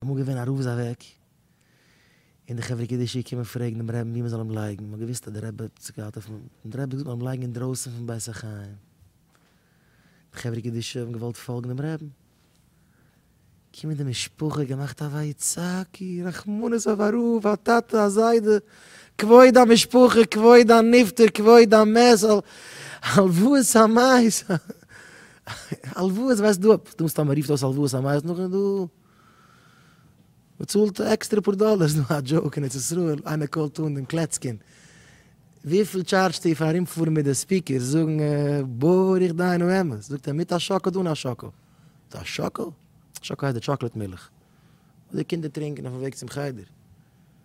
אמאל געווען א רב איז אוועק, און די חברה קדישא קומען פרעגן דעם רעבן ווי מ'זאל אים לייגן, מ'האט געוואוסט אז דער רעבע האט זיך געהאט אויפן, און דער רעבע האט געזאגט מ'זאל אים לייגן אינדרויסן פון בית החיים. די חברה קדישא האבן געוואלט פאלגן דעם רעבן, קומען די משפחה געמאכט א ויצעקו, רחמנות אויף א רב, א טאטע, א זיידע, כבוד המשפחה, כבוד הנפטר, כבוד המת, הלוואות המות. הלוואות וועסט דו אפ, דו מסתמא רופט אויס הלוואות א מייז נאכדעם דו באצאלט עקסטערע פאר דאלער, ס'דא א דזשאוק אין ארץ ישראל, איינער קאלט אן דעם קלעצקין, וויפיל טשארדזשסטו פאר ארומפארן מיט די ספיקערס זאגן ברוך דינו אמת, זאגט ער מיט א שאקל אדער אן א שאקל, מיט א שאקל, שאקל הייסט די טשאקלעט מילך וואס די קינדער טרינקען אויפן וועג צום חדר.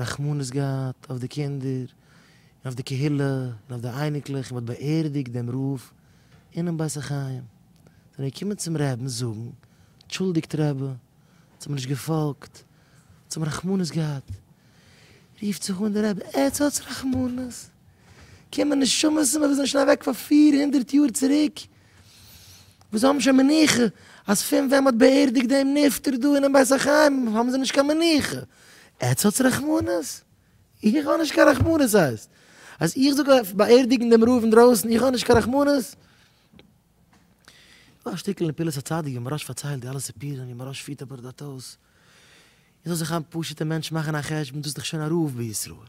רחמנות געהאט אויף די קינדער און אויף די קהילה און אויף די אייניקלעך און מ'האט באערדיגט דעם רב אינעם בית החיים, זענען מיר געקומען צום רעבן זאגן, טשולדיגט רבי, אונז האבן נישט געפאלגט, אונז האבן רחמנות געהאט, רופט זיך אן דער רבי, עטס האטס רחמנות? קומען נשמות פון וואס זענען שוין אוועק פאר פֿיר הונדערט יאר צוריק, וואס האבן שוין מנוחה, אז פון ווען מ'האט באערדיגט דעם נפטר דא אינעם בית החיים האבן זיי נישט קיין מנוחה, עטס האטס רחמנות? איך האב נישט קיין רחמנות ס'הייסט אז איך זאל גיין באערדיגן דעם רב אינדרויסן איך האב נישט קיין רחמנות? דא א שטיקל אין פעולת הצדיק ווי מהראש פארציילט די אלע סיפורים ווי מהראש פירט א בארדאטאס איך זאל זיך א פשוטע מענטש מאכן א חשבון דאס איז דאך שוין א רב בישראל.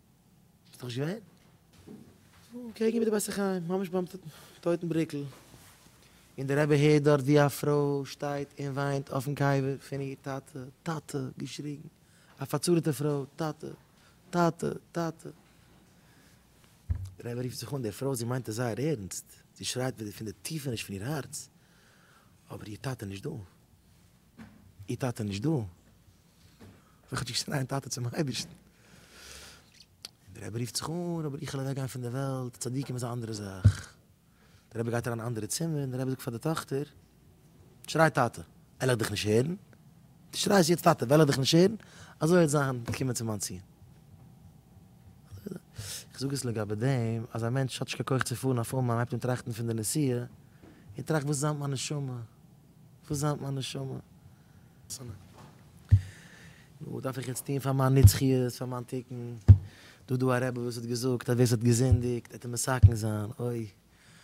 ביסט דאך נישט געווען? קעגן איבער די בית החיים, ממש ביים טויטן בריקל, און דער רבי הערט דארט ווי א פרוי שטייט און וויינט אויפן קבר פון איר טאטע, טאטע, געשריגן, א פארצארעטע פרוי, טאטע, טאטע, טאטע. דער רבי רופט זיך אן דער פרוי, זי מיינט עס זייער ערנסט, זי שרייט ווי פון די טיפעניש פון איר הארץ, אבער איר טאטע איז נישט דא, איר טאטע איז נישט דא. איך האב געשריגן ניין טאטע צום אייבערשטן. און דער רבי רופט זיך אן, אבער איך וועל אוועק גיין פון דער וועלט, צדיקים איז א אנדערע זאך. דער רבי גייט אריין אין א אנדערע צימער און דער רבי זאגט פאר די טאכטער, שריי טאטע, עלעך דיך נישט הערן, דו שרייסט יעצט טאטע וועלעך דיך נישט הערן, אזוי וועט זיין, קומען צו מיין ציון. איך זאג עס לגבי דעם אז א מענטש האט נישט קיין כח צו פארן אויף אומאן הייבט אן טראכטן פון די נסיעה, און טראכט וואס איז זיין מיט מיין נשמה. וואס זענט מיין נשמה? נו, וואס דארף איך יעצט טון פאר מיין נצחיות, פאר מיין תיקון? דא דא א רבי וואס האט געזאגט אז ווער ס'האט געזינדיגט, עט ער מסכן זיין, אוי.